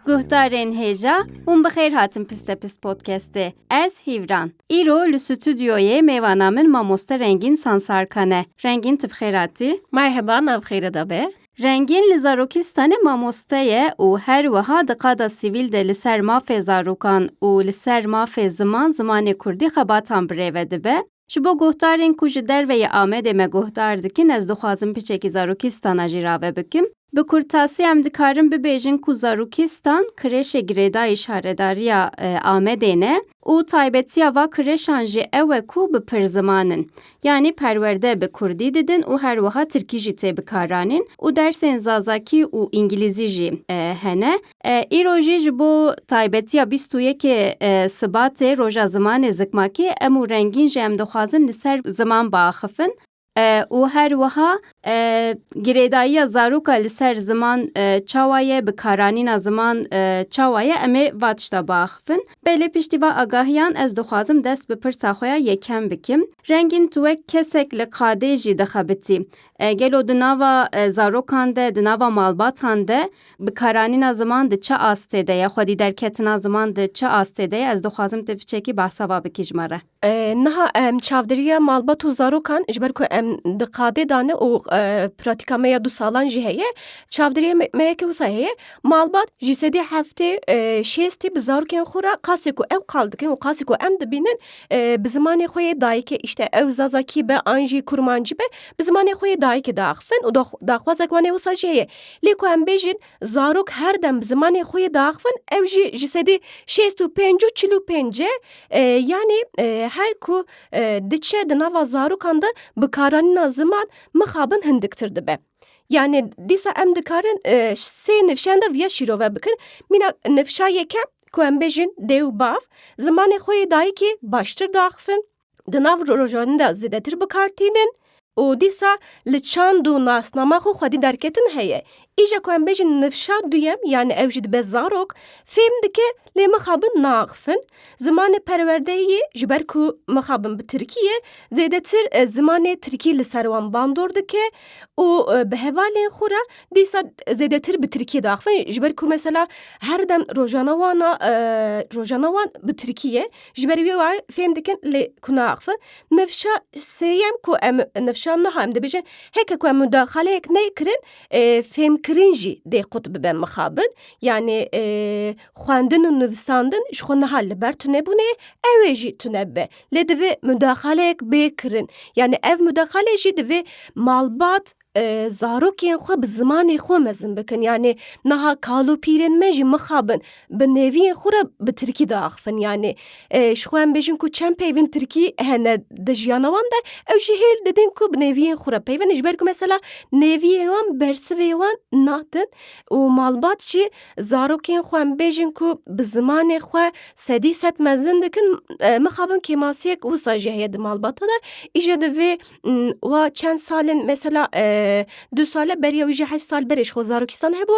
Guhdarên hêja hûn bi xêr hatin Piste Pist Podcastê. Ez Hîvran. Îro li stûdyoyê mêvana min mamoste Rengîn Sansarkan e. Rengîn tu bi xêr hatî? Merheba, nav xêre de be. Rengîn li zarokî stane mamoste ye û her wiha di qada sivîl de li ser mafê zarokan û li ser mafê ziman zimanê kurdî xebatan birêve dibe. Ji bo guhdarên ku ji derve yê Amedê me guhdar dikin ez dixwazim piçekî zarokî stana jî rave bikim. Bi kurtasî em dikarin bibêjin ku zarokî stan kirêşê girêdayî şaredariya Amedê ne. Û taybetiya va kireşan jî ew e ku bi pir ziman in. Yanî perwerde bi kurdî didin û her wiha tirkî jî tê bikaranîn û dersên zazakî û îngîlîzî jî hene. Îro jî ji bo taybetiya bîst û yekê Sibatê, Roja Zimanê Zikmakî em û rengîn jî em dixwazin li ser ziman biaxifin. û her wiha girêdayiya zaroka li ser ziman çawa ye, bikaranîna ziman çawa ye em ê va tişta biaxivin. Belê piştî va agahiyan ez dixwazim dest bi pirsa xwe ya yekem bikim. Rengîn tu wek kesek li qadê jî dixebitî. Gelo di nava zarokan de, di nava malbatan de bikaranîna ziman di çi astê de ye, xwedî derketina ziman di çi astê de ye ez dixwazim tu piçekî behsa va bikî ji me re. Niha em çavdêriya malbat û zarokan ji ber ku em di qadê de ne û pratîka me ya du salan jî heye çavdêriya me yekê wisa heye malbat ji sedî heftê şêstî bi zarokên xwe re qasê ku ew qal dikin û qasê ku em dibînin bi zimanê xwe yê dayikê îşte ew zazakî be an jî kurmancî be bi zimanê xwe yê dayikê diaxivin û daxwazek wan ê wisa jî heye lê ku em bêjin Zarok her dem bi zimanê xwe yê diaxivin ew jî ji sedî şêst û pênc û çil û pênc e. Yanî her ku diçe di nava zarokan de bikaranîna ziman mixabin hindiktir dibe. Yanî dîsa em dikarin sê nifşeyan de viya şîrove bikin. Mîna nifşa yekem ku em bêjin dê û bav zimanê xwe yê dayikê baştir diaxivin. di nav rojanîn de zêdetir bikar tînin û dîsa li çand û nasnama xwe xwedî derketin heye. Îja ku em bêjin nifşa duyem yanî ew jî dibe zarok fêm dike lê mixabin naaxifin zimanê perwerdeyê ji ber ku mixabin bi tirkî ye zêdetir zimanê tirkî li ser wan bandor dike û bi hevalên xwe re dîsa zêdetir bi tirkî diaxifin ji ber ku mesela her dem rojana wan a rojana wan bi tirkî ye Ji ber wê wan fêm dikin lê ku naaxivin. Nifşa sêyem ku em nifşa niha em dibêjin heke ku em mudaxaleyek nekirin fêmkirin jî dê qut bibe mixabin yanî xwendin û nivîsandin ji xwe niha li ber tunebûnê ye ew ê jî tune bibe lê divê mudaxaleyek bê kirin yanî ev mudaxale jî divê malbat Zarokên xwe bi zimanê xwe mezin bikin. Yanê niha kalopîrên me jî mixabin bi nêviyên xwe re bi tirkî de axivin. Yanê ji xwe em bêjin ku çend peyvên tirkî hene di jiyana wan de ew jî hêl didin ku bi nêviyên xwe re peyvin in. Ji ber ku mesela nêviyên wan bersivê wan natin û malbat jî zarokên xwe em bêjin ku bi zimanê xwe sedî sed mezin dikin mixabin kêmasiyek wisa jî heye di malbata de. Îje di vê wa çend sal in mesela du sal e beriya wî jî heşt sal berê ji xwe zarokistan hebû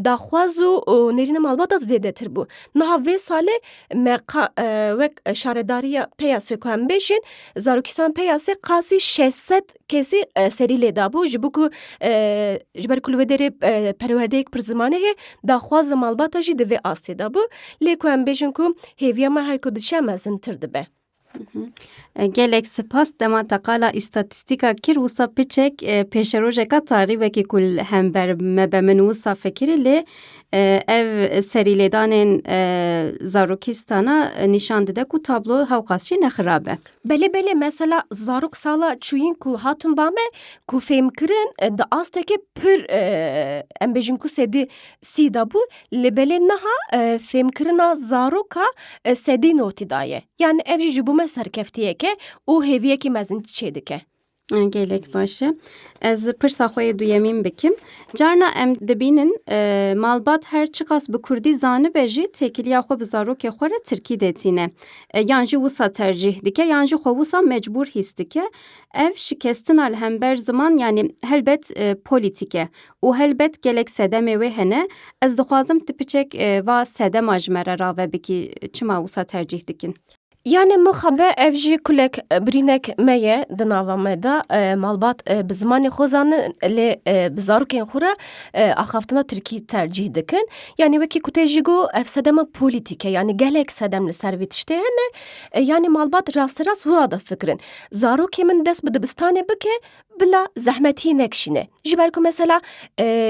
daxwaz û nêrîna malbata zêdetir bû. Niha vê salê me qa wek şaredariya peyasê ku em bêjin zarokistan peyasê qasî şeş sed kesî serî lê dabû ji bo ku ji ber ku li wê derê perwerdeyek pir zimanê heye daxwaza malbata jî di vê astê de bû. Lê ku em bêjin ku hêviya me her ku diçe mezintir dibe. Gelek spas dema te qala îstatîstîka kir wisa piçek e, pêşerojeka tarî wekî ku li hember me be min wisa fikirî lê e, ev serîlêdanên e, zarokîstana nîşan dide ku tablo hewqas jî nexirab e. Belê belê mesela zarok sala çûyîn ku hatin ba me ku fêmkirin e, di astekê pir e, em bêjin ku sedî sî de bû Lê belê niha fêmkirina zaroka sedî notî daye. Yani ev jî ji bo me serkeftiyek e û hêviyekî mezin çêdike. Gelek baş e. Ez pirsa xwe yê duyemîn bikim. Carna em dibînin malbat her çiqas bi kurdî zanibe jî têkiliya xwe bi zarokê xwe re tirkî dê tîne. Yan jî wisa tercîh dike yan jî xwe wisa mecbûr hîs dike. Ev şikestina li hember ziman yanî helbet polîtîk e Û helbet gelek sedemê wê hene. Ez dixwazim tu piçek va sedema ji me re rave bikî. Çima wisa tercîh dikin? Yanê mixabe ev jî kulek birînek me ye di nava me de malbat bi zimanê xwe zanin lê bi zarokên xwe re axaftina tirkî tercîh dikin. Yanê wekî ku te jî got ev sedema polîtîk e yanê gelek sedem li ser vê tiştê hene. Yanê malbat rasterast wira difikirin. Zarokê min dest bi dibistanê bike Bila zehmet hî nekişîne. Ji ber ku mesela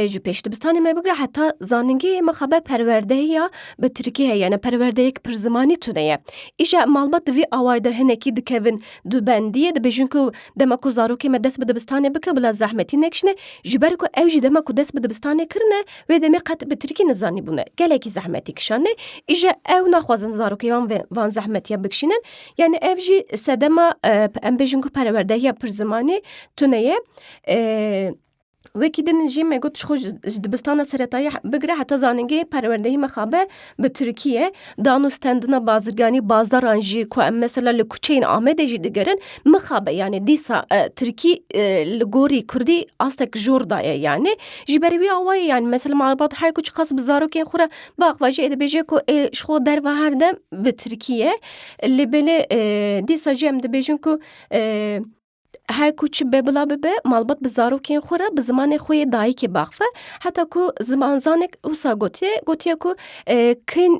ji pêş dibistanê me bigre heta zanîngehê me xebe perwerdehiya bi tirkî heye yani perwerdeyek pir zimanî tune ye. Îşa malbat di vî awayê de hinekî dikevin du bendiyê dibêjin ku dema ku zarokê me dest bi dibistanê bike bila zehmet hî nekişine ji ber ku ew jî dema ku dest bi dibistanê kirine wê demê qet bi tirkî nizanîbûne. Gelekî zehmetî kişandine îşa ew naxwazin zarokê wan van zehmetiya bikişînin. Yani ev jî sedema em bêjin ku perwerdehiya pirzimanê tune ye. Wekî din jî me got ji xwe ji dibistana seretayî bigire heta zanîngehê perwerdehî mixabe bi tirkî ye. Dan û stendina bazirganî bazaran jî ku em mesela li kuçeyên Amedê jî digerin mixabe yanî dîsa tirkî li gorî kurdî astek jor daye yanî. Ji ber wî awa ye yanî mesela malbat her ku çiqas bi zarokên xwe re biaxivajî ê dibêje ku ê ji xwe derve her dem bi tirkî ye. Lê belê dîsa jî em dibêjin ku her ku çi be bila bibe malbat bi zarokên xwe re bi zimanê xwe yê dayikê biaxive. Heta ku zimanzanek wisa gotiye, gotiye ku kin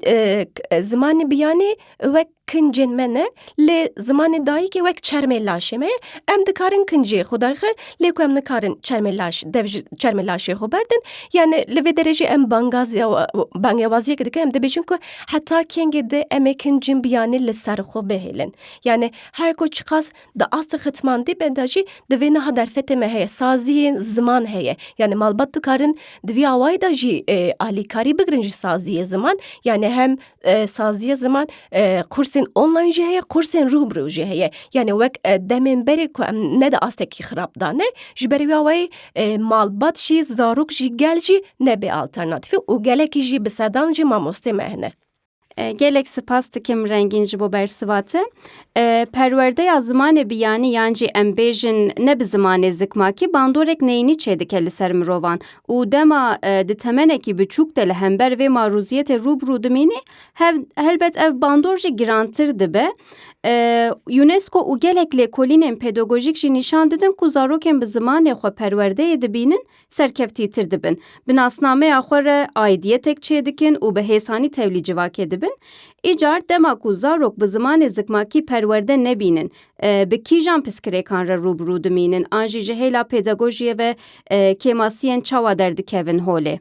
zimanê biyanê wek kincên me ne lê zimanê dayikê wek çermê laşê me ye. Em dikarin kincê xwe derxin lê ku em nikarin çermê laş dev ji çermê laşê xwe berdin. Yanî li vê derejeyê em bangaziya bangewaziyek dikin em dibêjin ku Heta kengê di em ê kin cinbiyanî li ser xwe bihêlin. Yanî her ku çiqas di astê xitmandî be de jî di vê niha derfetê me heye, saziyên ziman heye. Yanî malbat dikarin di vî awayî de jî alîkarî bigirin ji saziyê ziman. Yanî hem saziyê ziman qursên online jî heye, qursên rû bi rû jî heye. Yanî wek demên berê ku em ne di astekî xirab de ne, ji ber vî awayî e, malbat jî, zarok jî, gel jî nebê alternatîfê û gelekî jî bi sedan jî mamostê me hene. E, gelek spas dikim rengîn ji bo bersiva te. E, perwerdeya zimanê biyanî yan jî em bêjin ne bi zimanê zikmakî bandorek neyînî çêdike li ser mirovan û dema e, di temenekî biçûk de li hember vê marûziyetê rûbirû dimînî Helbet ev bandor jî girantir dibe. UNESCO û gelek lêkolînên pedagojîk jî nîşan didin ku zarokên bi zimanê xwe perwerdeyê dibînin serkeftîtir dibin. Bi nasnameya xwe re aîdiyetek çêdikin û bi hêsanî tevlî civakê dibin. Îcar dema ku zarok bi zimanê zikmakî perwerde nebînin bi kîjan piskirêkan re rûbirû dimînin an jî ji hêla pedagojiyê ve kêmasiyên çawa derdikevin holê?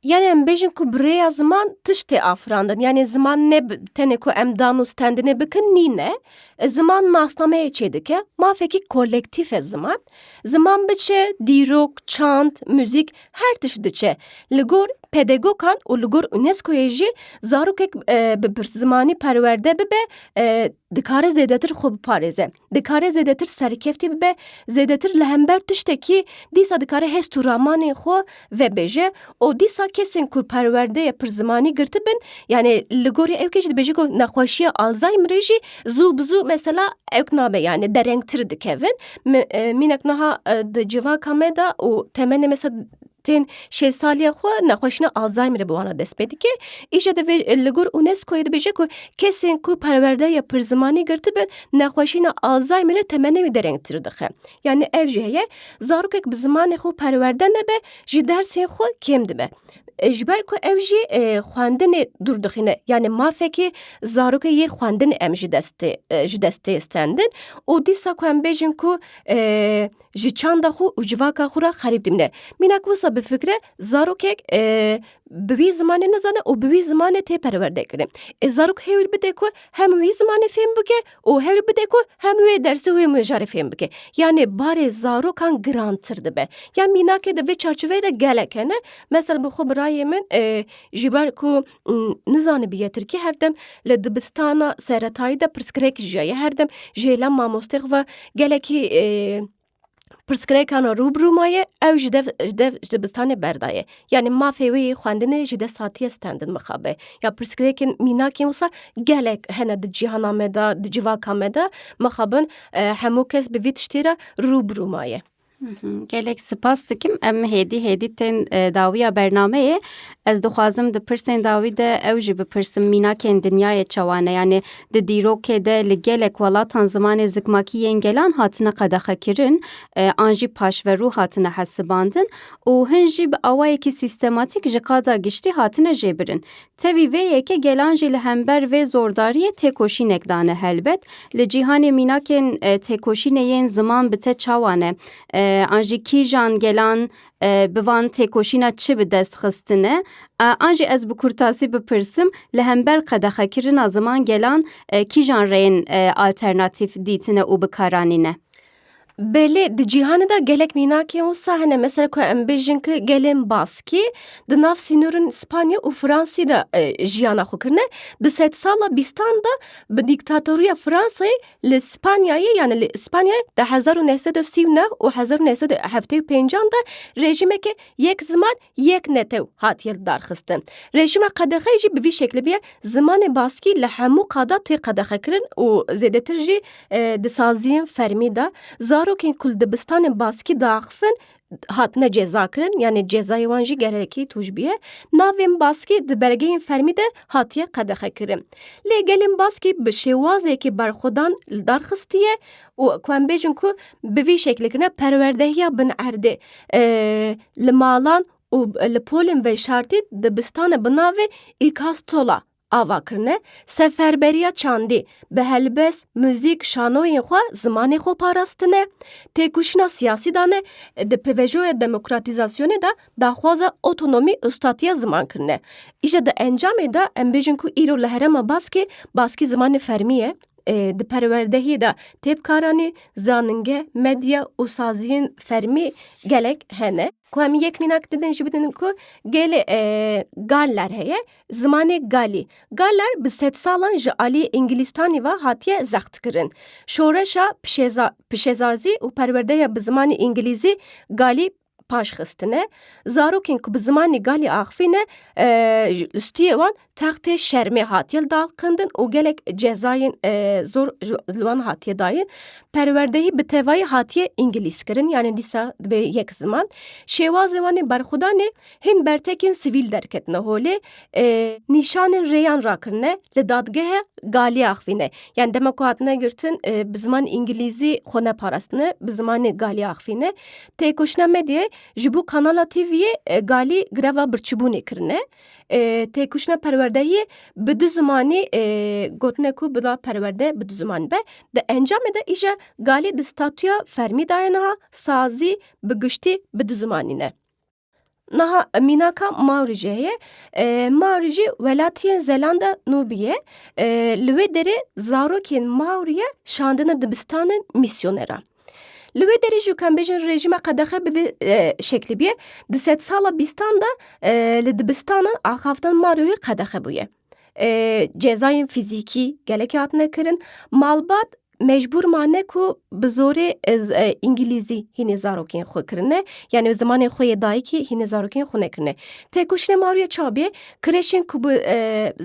Yanê em bêjin ku bi rêya ziman tişt tê afirandin. Yanê ziman ne tenê ku em dan û stendinê bikin nîne. Ziman nasnameyê çêdike, mafekî kolektîf e ziman. Ziman biçe dîrok, çand, muzîk her tişt diçe. Li gor pedegokan û li gor UNESCO'yê jî zarokek bi pirszimanî perwerde bibe dikare zêdetir xwe biparêze. dikare zêdetir serkeftî bibe, zêdetir li hember tiştekî dîsa dikare hest û ramanên xwe vebêje û dîsa kesên ku perwerdeyê pirzimanî girtibin yanê li gorî ew kê jî dibêjin ku nexweşiya Alzheimerê jî zû bi zû mesela ewk nabe yanê derengtir dikevin. Mînek niha di civaka me de û temenê me tên şêsaliya xwe nexweşina Alzheimerê bi wana dest pê dike. Îşa divê li gor UNESCO'yê dibêje ku kesên ku perwerdeya pirzimanî girtibin nexweşîna Alzheimerê temenê wî derengtir dixe. Yanî ev jî heye zarokek bi zimanê xwe perwerde nebe ji dersên xwe kêm dibe. Ji ber ku ev jî xwendinê dûr dixîne yanî mafekê zarokê yê xwendinê em ji destê ji destê stendin û dîsa ku em bêjin ku ji çanda xwe û civaka xwe re xerîb dimîne. Mînak wisa bifikire, zarokek e, bi wî zimanê nizane û bi wî zimanê tê perwerdekirin. E zarok hewil bide ku hem wî zimanê fêm bike û hewil bide ku hem wê dersê wê mijarê fêm bike. Yanê barê zarokan girantir dibe. Yan mînakê di vê çarçoveyê de gelek hene. Mesel bi xwe birayê min e, ji ber ku nizanibiye Tirkî her dem li dibistana seretayî de pirsgirêk jiyaye her dem ji hêla mamosteyê xwe ve gelekî pirsgirêkana rûbirû maye ew ji dev ji dev ji dibistanê berdaye yanî mafê wê yê xwendinê ji dest hatiye stendin mixabe ya pirsgirêkên mînakên wisa gelek hene di cîhana me de di civaka me de mixabin hemû kes bi vî tiştê re rûbirû maye. Gelek spas dikim em hêdî hêdî tên e, dawiya bernameyê ez dixwazim di pirsên dawî de ew jî bipirsim mînakên dinyayê çewane yanê di dîrokê de li gelek welatan zimanê zikmakî yên gelan hatine qedexekirin e, an jî paşverû hatine hesibandin û hin jî bi awayekî sîstematîk ji qada giştî hatine jêbirin Tevî vê yekê gelan jî li hember vê zordariyê têkoşînek dane. Helbet li cîhanê mînakên têkoşînê yên ziman bi te çawa ne? An jî kîjan gelan bi van têkoşîna çi bi dest xistine? An jî ez bi kurtasî bipirsim li hember qedexekirina ziman gelan kîjan rêyên alternatîf dîtine û bikaranîne? Belê di cîhanê de gelek mînakên wisa hene mesela ku em bêjin ki gelên baskî di nav sînorên Spanya û Fransî de e, jiyana xwe kirine di sed sala bîstan de bi dîktatoriya Fransayê li Spanyayê yani li Spanyayê di hezar û neh sed û sî û neh û hezar û neh sed û heftê û pêncan de rejîmeke yek ziman Yek netew hatiye lidarxistin. Rejîma qedexeyê jî bi vî şeklê bûye, zimanê baskî li hemû qada tê qedexekirin û zêdetir jî di saziyên fermî de zarokên ku li dibistanên baskî diaxivin hatine cezakirin yanê cezayê wan jî gelekî tûj bûye. Navên baskî di belgeyên fermî de hatiye qedexekirin. Lê gelên baskî bi şêwazekî berxwedan lidarxistiye û ku em bêjin ku bi vî şeklekirina perwerdehiya bin erdê e, li malan û li polên veşartî dibistan e bi navê îkastola ava kirine seferberiya çandî bi helbest muzîk şanoyên xwe zimanê xwe parastine têkoşîna siyasî dane di pvjoya demokratîzasyonê de daxwaza otonomî ustatiya ziman kirine îşe di encamê de em bêjin ku îro li herêma baskê baskî zimanê fermî ye Di perwerdehî de têbkaranî, zaninge, medya û saziyên fermî gelek hene. Ku em yek mînak didin jî bidin ku gelê e, Galler heye, zimanê Galî. Galler bi sedsalan ji aliyê Îngilîstanî ve hatiye zextkirin. Şoreşa pişeza, pişezazî û perwerdeya bi zimanê Îngilîzî Galî paş xistine. Zarokên ku bi zimanê galî axivîne li stûyê wan textê şermê hatiye daqindin û gelek cezayên zor li wan hatiye dayin. Perwerdehî bi tevayî hatiye îngilîzkirin yanê dîsa dibe yek ziman. Şêwazê wan ê berxwedanê hîn bertekên sivîl derketine holê. Nîşanên rêyan rakirine li dadgehe galî axivîne. Yanî dema ku hatine girtin bi zimanê îngilîzî xwe neparastine bi zimanê galî axivîne. Têkoşîna medyayê ji bo kanala TV'yê e, galî greva birçîbûnê kirine. E, Têkoşîna perwerdehiyê bi du zimanî e, gotine ku bila perwerde bi du zimanî be. Di encamê de îje galî di statûya fermî daye niha sazî bi giştî bi du zimanî ne. Naha mînaka Mawrijê heye. Mawrijê welatiyên Zelanda Nûbî ye. Li wê derê zarokên Mawrî ye şandine dibistanin mîsyoneran. Li wê derê jî em bêjin rejîma qedexe bi vê şeklî bûye. Di sedsala bîstan de li dibistanan axaftina Mawriyê qedexe bûye. cezayên fîzîkî gelekî hatine kirin. Malbat mecbûr mane ku bi zorê îngilîzî hînê zarokên xwe kirine yanî bi zimanê xwe yê dayikî hînê zarokên xwe nekirine. Têkoşînê Mawriyê çabê kireşên ku bi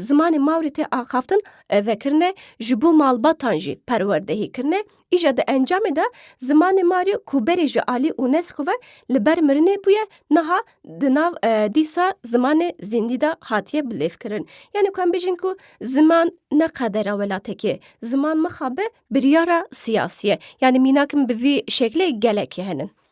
zimanê Mawrî tê axaftin vekirine ji bo malbatan jî perwerdehî kirine. Îja di encamê de zimanê Mario ku berê ji alî UNESCO ve li ber mirinê bûye niha di nav e, dîsa zimanê zîndî de hatiye bilêvkirin. Yani ku em bêjin ku ziman ne qedera welatekê, ziman mixabe biryara siyasî ye. Yani mînak min bi vî şeklê gelekî hene.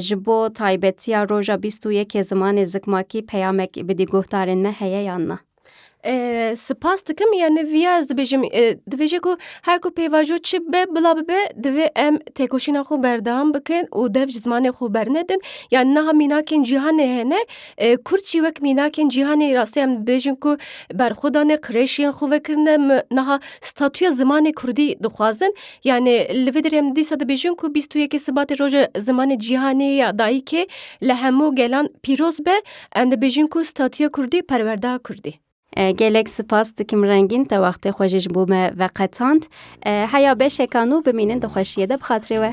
Ji bo taybetiya roja bîst û yekê zimanê zikmakî peyamek bi dî guhdarên me heye yan na? Spas dikim yani viya ez dibêjim dibêje ku her ku pêvajo çi be bila bibe divê em têkoşîna xwe berdewam bikin û dev ji zimanê xwe bernedin ya niha mînakên cîhanê hene kurd jî wek mînakên cîhanê rastî em dibêjin ku berxwe dane qirêşên xwe vekirine niha statuya zimanê kurdî dixwazin Yanî li vê derê em dîsa dibêjin ku bîst û yekê Sibatê Roja Zimanê Cîhanê ya Dayikê li hemû gelan pîroz be, em dibêjin ku statuya kurdî perwerda kurdî. Gelek sipas dikim Rengîn te wextê xwe jî ji bo me veqetand. Heya beşekan û bimînin di xweşiyê de bi xatirê we.